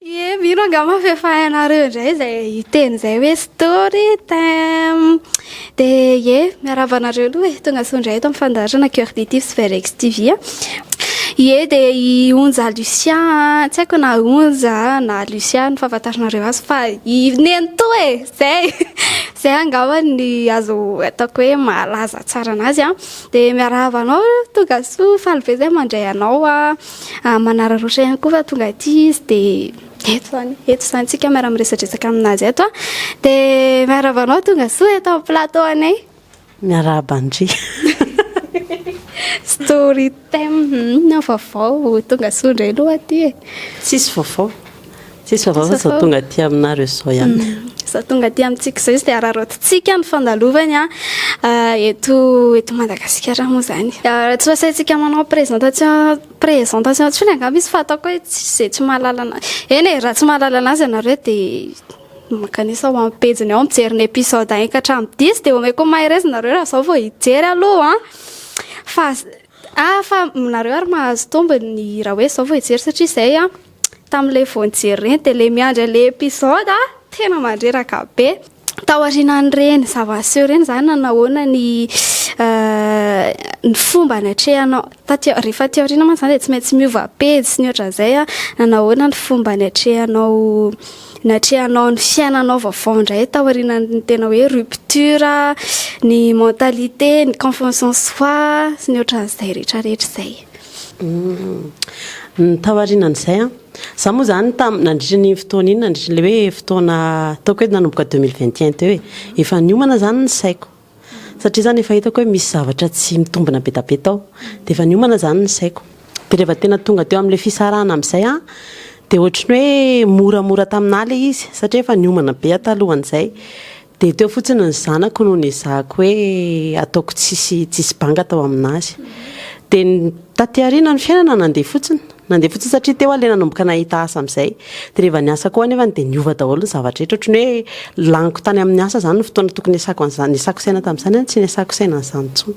Ye mino angamba fa efa hainareo indray izay hiteny izay hoe story time dia ye miarahaba anareo aloha e tonga soa indray eto amin'ny fandaharana cœur de tif sy verex tv a ye dia i onja lucia tsy haiko na onja na lucia no fahafantaranareo azy fa i nenitoa e izay izay angamba ny azo ataoko hoe mahalaza tsara anazy a dia miarahaba anao tonga soa faly be izay mandray anao a Ah, manararaotra ihany koa fa tonga aty izy dia eto izany, eto izany tsika miara-miresadresaka aminazy eto ah. Dia miarahaba anao tonga soa eto amin'ny plateau anay. Miarahaba ndry. Story time, inona vaovao? Tonga soa indray aloha aty e. Tsisy vaovao. Tsisy vava fa zao tonga aty aminareo zao ihany. Mm. Zao tonga aty amintsika izao izy dia araraotintsika ny fandalovany ah, eh, eto eto Madagasikara moa izany. Eh, raha tsy asaintsika manao présentation présentation tsy fona angamba izy fa ataoko hoe tsy izay tsy mahalala anazy. Eny e, raha tsy mahalala anazy ianareo dia makanisa ho amin'ny pejiny ao mijery ny épisode 1 ka hatramin'ny 10 dia omeko mahereza nareo raha zao vao hijery aloha an. Fa ah fa nareo ary mahazo tombony raha hoe zao vao hijery satria izay an. Tamin'ilay vao nijery ireny dia ilay miandry an'ilay episode aho tena mandreraka be. Tao aorianan'ireny zava-niseho ireny izany na nahoana ny ny fomba niatrehanao. Taty rehefa aty aoriana mantsy izany dia tsy maintsy miova pejy sy ny ohatran'izay na nahoana ny fomba niatrehanao niatrehanao ny fiainanao vaovao indray tao aorianan'ny tena hoe rupture, ny mentalité, ny confiance en soi sy ny ohatran'izay rehetrarehetra izay. Ny taorian'izay an, za moa zany tam- nandritra an'iny fotoana iny, nandritra an'ilay hoe fotoana ataoko hoe nanomboka deux mille vingt et un teo e, efa niomana zany ny saiko satria zany efa hitako hoe misy zavatra tsy mitombina be da be tao, dia efa niomana zany ny saiko. Dia rehefa tena tonga teo amin'ilay fisarahana amin'izay an, dia ohatry ny hoe moramora tamin'ahy ilay izy satria efa niomana be aho talohan'izay, Dia teo fotsiny ny zanako no nezahako hoe ataoko tsisy tsisy banga tao aminazy. Dia ny taty aoriana ny fiainana nandeha fotsiny. Nandeha fotsiny satria teo aho ilay nanomboka nahita asa amin'izay. Dia rehefa niasa koa anefany dia niova daholo ny zavatra rehetra. Ohatran'ny hoe laniko tany amin'ny asa izany ny fotoana tokony hiasako an'izany, niasako saina tamin'izany an, tsy niasako saina an'izany intsony.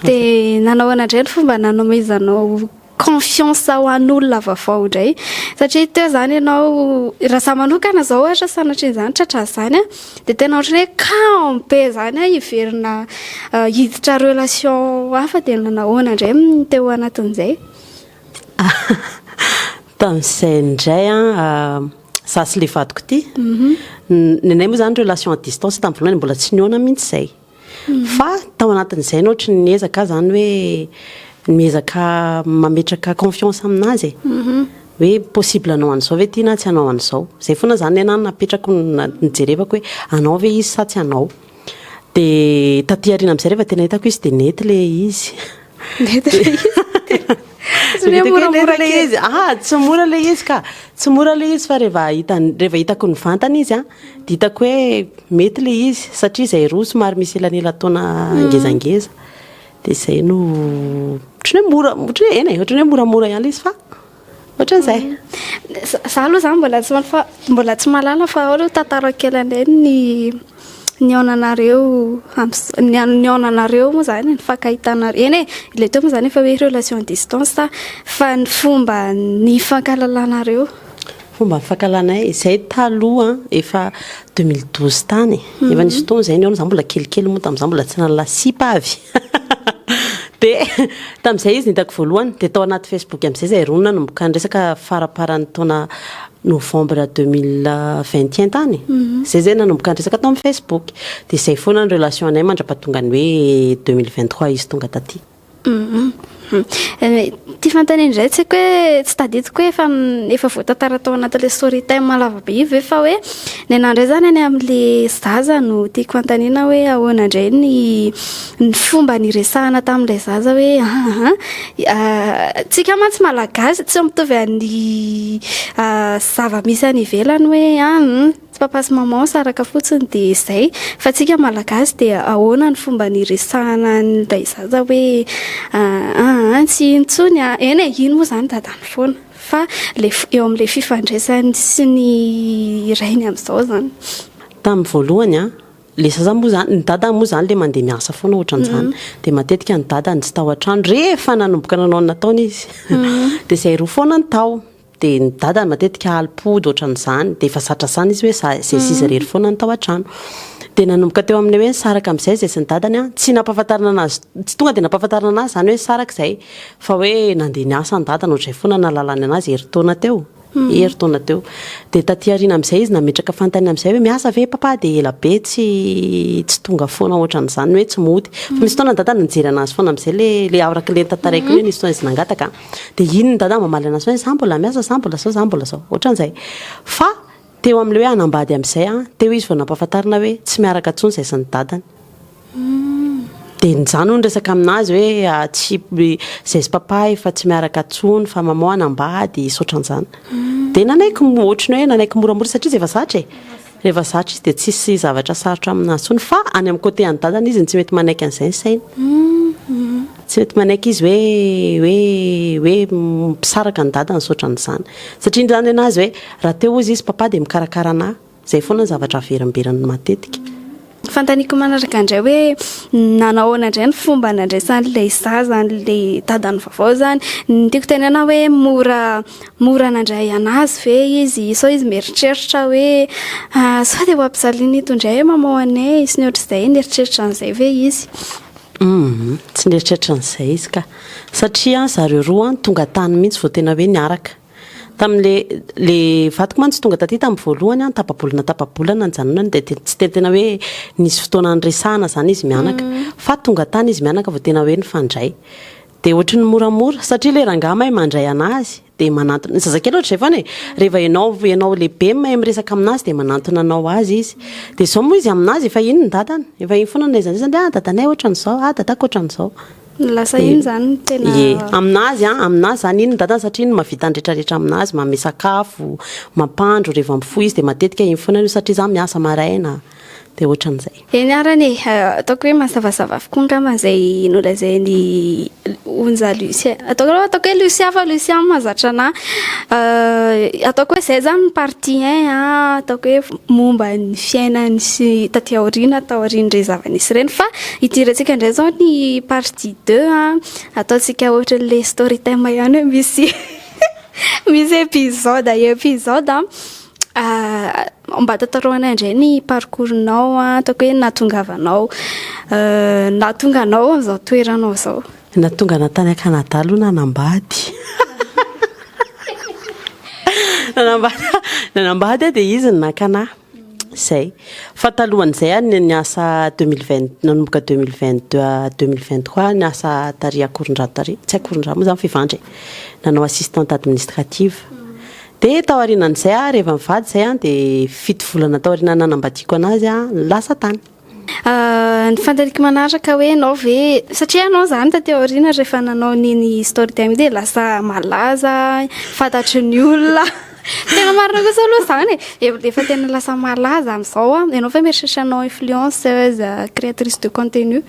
Dia nanao indray ny fomba nanomezanao confiance ho an'olona vaovao indray satria teo izany ianao raha za manokana izao ohatra sanatria izany tratra izany dia tena ohatran'ny hoe cas be izany aho hiverina hiditra relation hafa dia nahoana indray ny teo anatin'izay tamin'izay indray an za sy le vadiko ity ny anay moa izany relation à distance tamin'ny voalohany mbola tsy nihaona mihitsy izay Fa tao anatin'izay no ohatry ny ezaka aho zany hoe miezaka mametraka confiance aminazy e. Mhm. Hoe possible anao an'izao ve ity na tsy anao an'izao. Zay foana zany ny anahy napetrako nijerevako hoe anao ve izy sa tsy anao. Dia taty aoriana amizay rehefa tena hitako izy dia nety le izy. Ah, tsy mora le izy ka tsy mora le izy fa rehefa hitany rehefa hitako ny vantana izy a dia hitako hoe mety le izy satria izay roa somary misy elanelataona mm. ngezangeza dia izay no otrany hoe mora otrany hoe ena e otrany hoe moramora ihany le izy fa Ohatran'izay. Za aloha zany mbola tsy fa mbola tsy mahalala fa ao aloha tantarao kely indray ny nihaonanareo nihaonanareo moa zany nifankahitanareo eny e le teo moa zany efa hoe relation distance fa ny fomba nifankahalalanareo Fomba fankalanay, izay taloha an, efa deux mille douze tany e, efa nisy fotoana izay nihaona izaho mbola kelikely moa tamin'izaho mbola tsy nanala sipa avy, dia tamin'izay izy no hitako voalohany, dia tao anaty Facebook amin'izay izay roa nanomboka niresaka faramparan'ny taona novembre deux mille vingt et un tany, izay izay nanomboka niresaka tao amin'ny Facebook, dia izay foana ny relation anay mandrapatongan'ny hoe deux mille vingt trois izy tonga taty. Ity fanontaniana indray tsy haiko hoe tsy tadidiko hoe efa efa voatantara tao anatin'ilay story time lava be io ve fa hoe ny anah indray izany any amin'ilay zaza no tiako hanontaniana hoe ahoana indray ny ny fomba niresahana tamin'ilay zaza hoe ahaha isika mantsy malagasy tsy mitovy amin'ny zava-misy any ivelany hoe an! Tsy papas maman saraka fotsiny de zay. Fa tsika malagasy dia ahoana ny fomba niresahana ny ray zaza hoe aah tsy iny tsony a. Eny e iny moa zany dadany foana fa le eo amle fifandraisany sy ny rainy amzao zany. Tamin'ny voalohany a, le zaza moa zany, ny dadany moa zany le mandeha miasa foana otran'izany de matetika ny dadany tsy tao an-trano rehefa nanomboka nanao ny nataony izy de zay roa foana no tao. Dia ny dadany matetika ali-pody ohatran'izany, dia efa satrasana izy hoe za, izay sy izay irery foana no tao an-trano. Dia nanomboka teo amin'ilay hoe nisaraka amin'izay izay sy ny dadany an, tsy nampahafantarina anazy, tsy tonga dia nampahafantarina anazy izany hoe nisaraka izay, fa hoe nandeha niasa ny dadany, ohatr'izay foana no nahalalany anazy, herintaona teo, herintaona teo. Dia taty aoriana amin'izay izy nametraka fanontaniana amin'izay hoe miasa ve i Papa, dia ela be tsy, tsy tonga foana ohatran'izany, ny hoe tsy mody. Fa misy fotoana ny dadany nijery anazy foana amin'izay, ilay, ilay arak'ilay notantaraiky hoe nisy fotoana izy nangataka. de iny ny dada mamaly anazy hoe za mbola miasa za mbola zao za mbola zao ohatran'izay fa teo amle hoe hanambady amzay a teo izy vao nampahafantarina hoe tsy miaraka tsony zay sy ny dadany de nizany hono resaka aminazy hoe ah, tsy zay sy papa efa tsy miaraka tsony fa mamao hanambady sotran'izany de nanaiky ohatran'ny hoe nanaiky moramora satria zay efa zatra e Rehefa zatra izy dia tsisy zavatra sarotra aminazy tsony fa any am cote any dadany izy no tsy mety manaiky an'izay ny sainy. Tsy mety manaiky izy hoe hoe hoe mpisaraka an'i dadany sy otran'izany. Satria indray zany nenazy hoe raha te hozy izy papa dia mikarakara anah. Zay foana ny zavatra averimberiny matetika. Fanontaniako manaraka indray hoe nanao ahoana indray ny fomba nandraisan'ilay zaza an'ilay dadany vaovao izany. Ny tiako tenenana hoe mora mora nandray an'azy ve izy, sao izy mieritreritra hoe sao dia ho ampijaliana eto indray i maman anay sy ny ohatr'izay, nieritreritra an'izay ve izy. Tsy nieritreritra an'izay izy ka. Satria zareo roa tonga tany mihitsy vao tena hoe niaraka. Tamin'ilay ilay vadiko mantsy tonga taty tamin'ny voalohany an, tapa-bolana tapa-bolana nijanonany dia te- tsy te- tena hoe nisy fotoana niresahana izany izy mianaka fa tonga tany izy mianaka vao tena hoe nifandray dia ohatry ny moramora satria ilay rangahy mahay mandray an'azy dia manantona ny zazakely ohatry izay foana e rehefa ianao ianao lehibe no mahay miresaka amin'azy dia manantona anao azy izy dia izao moa izy amin'azy efa iny ny dadany efa iny foana ilay zan- izy dia ah dadanay ohatran'izao ah dadako ohatran'izao Lasa iny zany tena ye aminazy an aminazy zany iny ny dadany satria iny no mahavita ny retraretra aminazy manome sakafo mampandro reva mifoha izy de matetika iny foana no satria za miasa maraina de otran'izay Eny arany e, ataoko hoe mazavazava avokoa angamba izay nolazain'i Onja Lucia. Ataoko aloha ataoko hoe Lucia fa Lucia mahazatra anà. Ataoko hoe izay izany ny partie un an, ataoko hoe momba ny fiainany sy taty aoriana, taorian'ireny zava-nisy ireny fa. Hidirantsika indray izao ny partie deux a. Ataontsika ohatran'ilay story time ihany hoe misy misy épisode épisode a. Ah, mba tantaraho anay indray ny parcours-nao a, ataoko hoe nahatongavanao nahatonga anao amin'izao toeranao izao. Nahatonga anah tany Canada aloha nanambady. Nanambady nanambady aho dia izy no naka anah. Izay. Fa talohan'izay ary ny ny asa deux mille vingt nanomboka deux mille vingt deux à deux mille vingt trois ny asa tary Akorondrano tary, tsy Akorondrano moa izany fa Ivandry e, nanao assistante administrative. Dia tao aorianan'izay aho, rehefa nivady izay aho dia fito volana tao aoriana nanambadiako an'azy aho, lasa tany. Ah, ny fantaniko manaraka hoe ianao ve, satria ianao izany taty aoriana rehefa nanao an'iny story time iny dia lasa malaza, fantatry ny olona. Tena marina kosa aloha izany e. Efa efa tena lasa malaza amin'izao aho. Ianao ve mieritreritra hanao influenceuse, créatrice de contenu?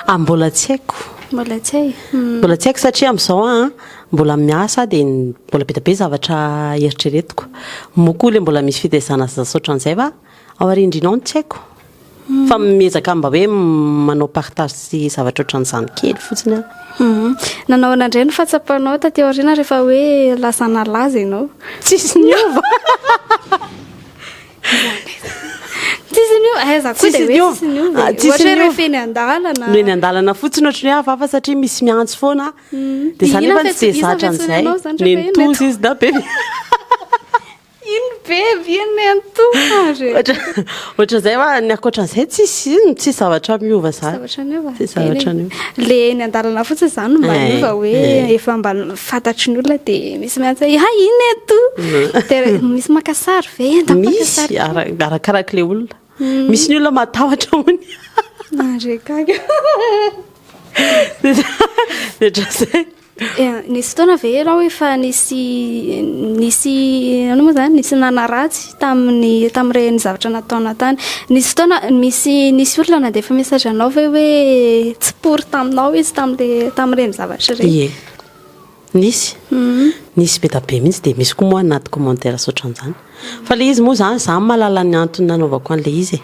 Ah, mbola tsy haiko. Mbola tsy hay. Hum. Mbola tsy haiko satria amin'izao aho mbola miasa aho dia ny- mbola be dia be zavatra eritreretiko. Moa koa ilay mbola misy fitaizana sy zasa ohatran'izay va Ao arindrina ao ny tsy haiko. Fa miezaka mba hoe manao partage sy zavatra ohatran'izany kely fotsiny aho. Mhm. Nanao an'andray ny fatsapanao taty aoriana rehefa hoe lasa nalaza ianao? Tsisy niova. Tsisy niova. Eh, za koa dia hoe tsisy niova. Ah, tsisy niova. Rehefa eny an-dalana. No eny an-dalana fotsiny ohatran'ny hoe hafahafa satria misy miantso foana. Mhm. Dia izany efa tsy dia zatra an'izay. Nentoza izy da be. Iny be viany le antoka re. Ohatran'izay va ny ankoatran'izay tsisy ino tsisy zavatra miova zany. Zavatra miova. Tsisy zavatra miova. Le eny an-dalana fotsiny zany mba eh, miova hoe eh. efa mba fantatry ny olona dia misy miantsa ha ah, iny eto. Eh, dia misy maka sary ve enta maka sary. Misy arakaraka le olona. Hmm. Misy ny olona matahotra ony. Narekaga. Dia zay. Nisy fotoana ve ianao efa nisy nisy ano moa zany nisy nanaratsy tamin'ny tamin'ireny zavatra nataona tany nisy fotoana misy nisy olona nandefa message anao ve hoe tsy pory taminao izy tamin'le tamin'ireny zavatra ireny ie nisy mhm. nisy be da be mihitsy dia misy koa moa anaty commentaire saotran'izany Fa ilay izy moa izany, izaho mahalala ny antony nanaovako an'ilay izy e.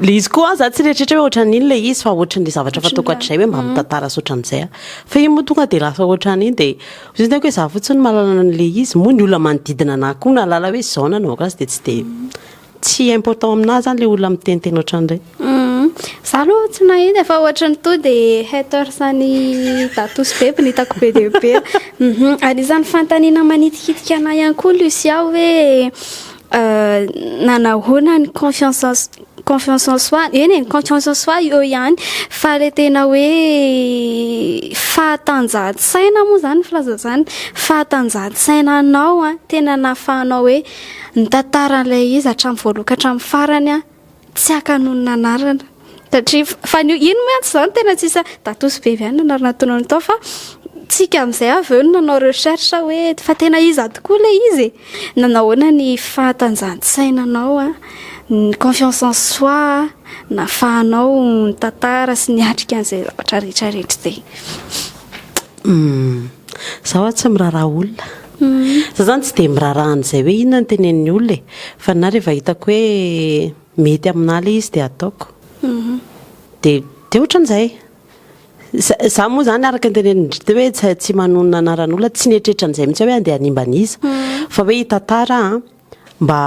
Ilay izy koa izaho tsy retriretra hoe ohatran'iny ilay izy fa ohatran'ilay zavatra fataoko hatrizay hoe mba mitantara sy ohatran'izay aho. Fa iny moa tonga dia lasa ohatran'iny dia ohatran'ny tenako hoe izaho fotsiny no mahalala an'ilay izy. Moa ny olona manodidina an'ahy koa mahalala hoe izao no nanaovako azy dia tsy dia tsy important amin'ahy izany ilay olona miteniteny ohatran'ireny. Za aloha tsy nahita fa ohatry ny toa dia haters an'i Datos be no hitako be dia be. Anisan'ny fanontaniana manitikitika anah ihany koa Lucia hoe nanahoana ny confiance en confiance en soi. Eny e, ny confiance en soi eo ihany fa ilay tena hoe fahatanjahan-tsaina moa izany filaza izany, fahatanjahan-tsaina anao tena nahafahanao hoe nitantara an'ilay izy hatramin'ny voalohany ka hatramin'ny farany. Tsy haka noho ny nanarana. Satria fa ny ino mantsy izany tena tsy isa Datosy Bevy ihany nanarana tonony tao fa tsika amin'izay avy eo no nanao recherche hoe fa tena iza tokoa ilay izy e. Nanao ahoana ny fahatanjahantsainanao a, ny confiance en soi nahafahanao nitantara sy niatrika an'izay zavatra rehetra rehetra izay. Izaho tsy miraharaha olona. Za zany tsy dia miraraha an'izay hoe inona ny tenenin'ny olona e! Fa ninahy rehefa hitako hoe mety aminahy ilay izy dia ataoko. Dia dia ohatran'izay. Za za moa izany araka ny tenenin-dry teo hoe tsy tsy manonona anaran'olona, tsy nieritreritra an'izay mihitsy aho hoe andeha hanimba an'iza. Fa hoe hitantara aho mba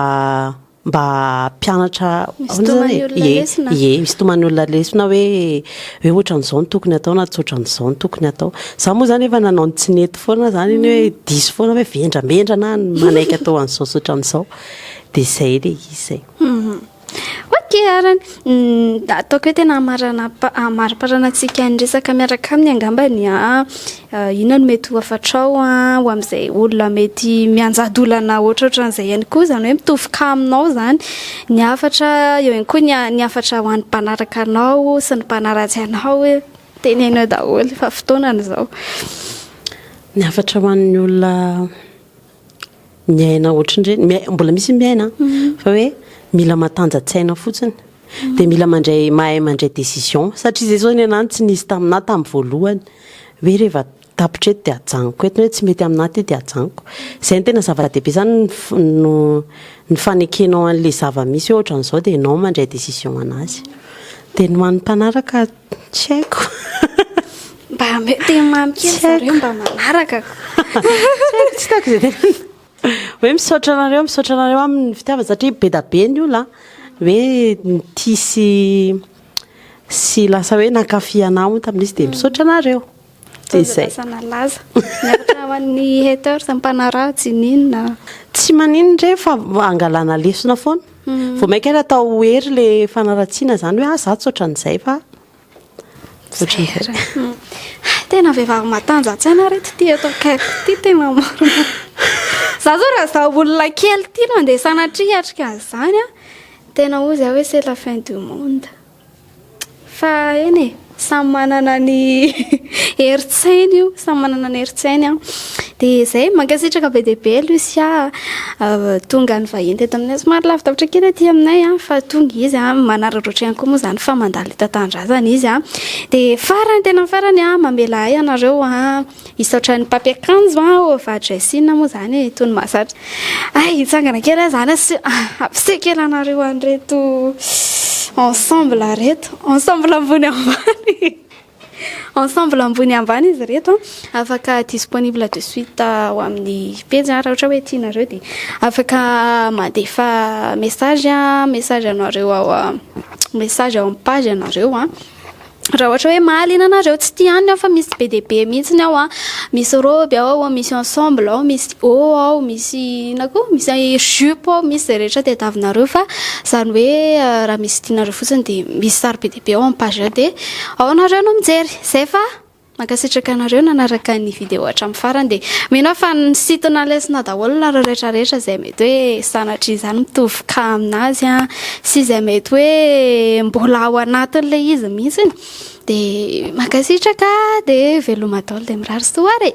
mba mpianatra misintomany olona lesona ye misintomany olona lesona hoe hoe ohatran'izao ny tokony atao na tsy ohatran'izao ny tokony atao za moa zany efa nanao ny tsy nety foana zany iny hoe mm. diso foana hoe vendrambendrana manaiky atao an'izao sy ohatran'izao de zay le izy zay mhm. ok arany mm, ataoko hoe tena amariparanantsika ny resaka miaraka aminy angambany a ah. Inona no mety ho hafatrao ho amin'izay olona mety mianjady olana ohatrohatran'izay ihany koa, izany hoe mitovy cas aminao izany ny hafatra, eo ihany koa ny hafatra ho an'ny mpanaraka anao sy ny mpanaratsy anao hoe teneno eo daholo fa fotoana no izao. Ny hafatra ho an'ny olona miaina ohatrin'ireny, miai- mbola misy ny miaina an, fa hoe mila matanjatsaina fotsiny dia mila mandray mahay mandray décision satria izay izao ny anah no tsy nisy taminah tamin'ny voalohany hoe reva tapitra eto dia ajanoko eto na hoe tsy mety aminah ity dia ajanoko izay no tena zava-dehibe izany ny f- no ny fanekenao an'ilay zava-misy hoe ohatran'izao dia ianao mandray décision an'azy dia ny ho an'ny mpanaraka Tsy haiko. Mba ameo teny mamy kely zareo mba manaraka. Tsy haiko tsy hitako izay tena. Hoe misaotra anareo, misaotra anareo amin'ny fitiavana satria be da be ny olona hoe nitia sy sy lasa hoe nankafy anah hono tamin'izy dia misaotra anareo. Fitaovam-piasana laza. Miaritra ho an'ny haters mpanaraha tsy ninona. Tsy maninona re fa angalana lesona foana. Vao mainka ary atao hery ilay fanaratsiana izany hoe ah za tsy ohatran'izay fa ohatran'izay. Hay tena vehivavy matanjantsaina ry reto ty eto akaiky ty tena marina. Za zao raha za olona kely ty no andeha sanatria hiatrika an'izany an! Tena hoy za hoe c'est la fin du monde. Fa eny e, samy manana ny herin-tsainy io, samy manana ny herin-tsainy an. Dia izay, mankasitraka be dia be Lucia tonga nivahiny teto aminay. Somary lavidavitra kely aty aminay an, fa tonga izy an, manararaotra ihany koa moa izany fa mandalo enta-tanindrazana izy an. Dia farany, tena farany an, mamela ahy ianareo an. Hisaotra ny mpampiakanjo an, ova dressing moa izany e, tony mahazatra. Hay hitsangana kely aho izany asio hampiseho kely anareo an'ireto ensemble ireto. Ensemble ambony ambany. Ensemble ambony ambany izy ireto an. Afaka disponible de suite ao amin'ny pejy an, raha ohatra hoe tianareo dia afaka mandefa message an, message anareo ao message ao amin'ny page anareo an. Raha ohatra hoe mahaliana anareo, tsy tia any aho fa misy be dia be mihitsy aho an. Misy robe ao, misy ensemble ao, misy haut ao, misy inona koa, misy jupe ao, misy izay rehetra tadiavinareo fa izany hoe raha misy tianareo fotsiny dia misy sary be dia be ao amin'ny page dia ao ianareo no mijery. Izay fa. Mankasitraka anareo nanaraka ny video hatramin'ny farany dia mino aho fa nisintona lesona daholo nareo rehetra rehetra izay mety hoe sanatria izany mitovy cas aminazy an, sy izay mety hoe mbola ao anatin'ilay izy mihitsy dia mankasitraka dia veloma daholo dia mirary soa ary e.